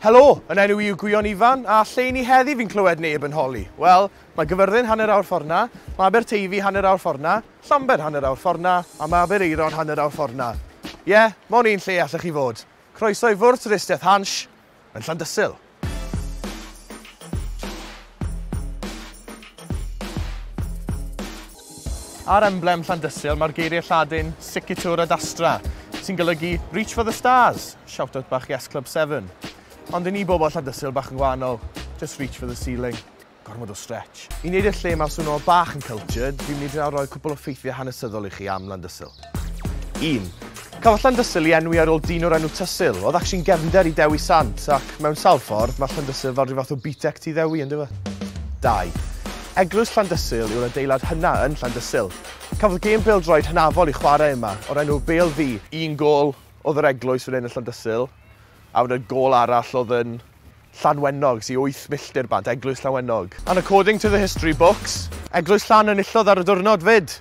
Helo! Yn enw i yw Gwion Ifan, a lle i ni heddi fi'n clywed neb yn holi? Wel, mae Gyfyrddin hanner awr ffordd 'na, mae Aberteifi hanner awr ffordd 'na, Llambed hanner awr ffordd 'na, a mae Aberaeron hanner awr ffordd 'na. Ie, mond un lle allech chi fod. Croeso i fwrdd twristiaeth Hansh yn Llandysul. Ar emblem Llandysul mae'r geiriau Lladin Siccitur ad astra, sy'n golygu 'Reach for the stars', shout-out bach Yes Club Seven. Ond i ni bobl Llandysul bach yn gwahanol, just reach for the ceiling. Gormod o stretch. I wneud i'r lle 'ma swnio bach yn cultured, fi'n mynd i dreial rhoi cwpl o ffeithiau hanesyddol i chi am Landysul. 1. Cafodd Llandysul ei enwi ar ôl dyn o'r enw Tysul. Oedd actually'n gefnder i Dewi Sant, ac mewn sawl ffordd, mae Llandysul fel rhyw fath o BTEC tu Ddewi, yn dyfa? 2. Eglwys Llandysul yw'r adeilad hynna yn Llandysul. Cafodd gêm bêl-droed hynafol i chwarae yma, o'r enw Bêl Fi. Un gôl oedd yr eglwys fan hyn yn Llandysul, a wedyn gôl arall oedd yn Llanwenog, sy'n 8 milltir bant, eglwys Llanwenog. And according to the history books, eglwys Llan enillodd ar y diwrnod 'fyd!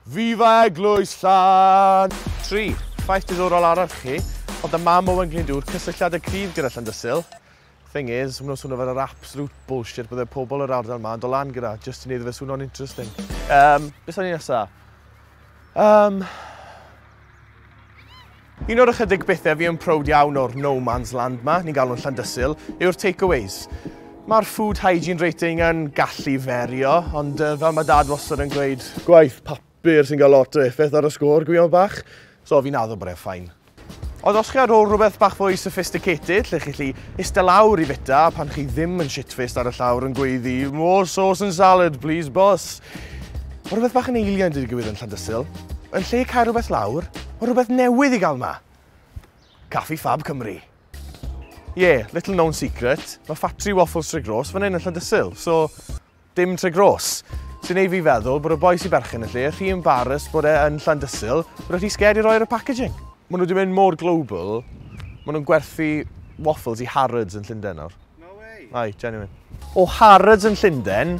Viva Eglwys Llan! Tri, ffaith diddorol arall chi, oedd y mam Owen Glyndŵr cysylltiad y cryf gyda Llandysul. Thing is, maen nhw'n swnio fel yr absolute bullshit bydde pobl yr ardal ma yn dod lan gyda, just i wneud fe swno'n interesting. Yym, beth o'n i nesa? Yym... Un o'r ychydig bethau fi yn proud iawn o'r No Man's Land ma, ni'n galw'n Llandysul, yw'r takeaways. Mae'r food hygiene rating yn gallu ferio, ond uh, fel mae dad wastad yn gweud... Gwaith papur sy'n cael lot o effaith ar y sgôr, gwion bach. So fi'n addo bod e'n ffain. Ond os chi ar ôl rhywbeth bach fwy sophisticated, lle chi chi ista lawr i fita pan chi ddim yn shitfaced ar y llawr yn gweiddi More sauce and salad, please boss. Mae rhywbeth bach yn eiliad wedi digwydd yn Llandysul. Yn lle cael rhywbeth lawr, mae rhywbeth newydd i gael yma. Caffi Fab Cymru. Ie, yeah, little known secret, mae ffatri waffles Tre Gros fan hyn yn Llandysul, so dim Tre Gros. Sy'n ei fi feddwl bod y boi sy'n berchen y lle rhy embarrassed bod e yn Llandysul, bod e rhy scared i roi ar y packaging. Maen nhw wedi mynd mor global, maen nhw'n gwerthu waffles i Harrods yn Llundain nawr. No way! Ai, genuine. O Harrods yn Llundain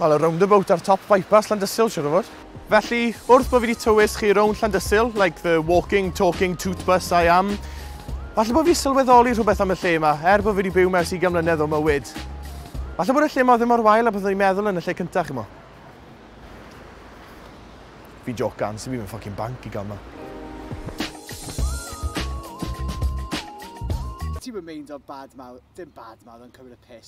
Wel, y roundabout ar top bypass Llandysul, siwr o fod. Felly, wrth bod fi wedi tywys chi rownd Llandysul, like the walking, talking, toot bus I am, falle bod fi sylweddoli rhywbeth am y lle yma, er bod fi wedi byw mewn sigan mlynedd o mywyd. Falle bod y lle yma ddim mor wael a byddwn i'n meddwl yn y lle cyntaf, chi mo. Fi jocan, sy'n byd yn ffocin banc i gael ma. Ti'n mynd meind o'r bad mawr, dim bad mawr, yn cymryd y piss.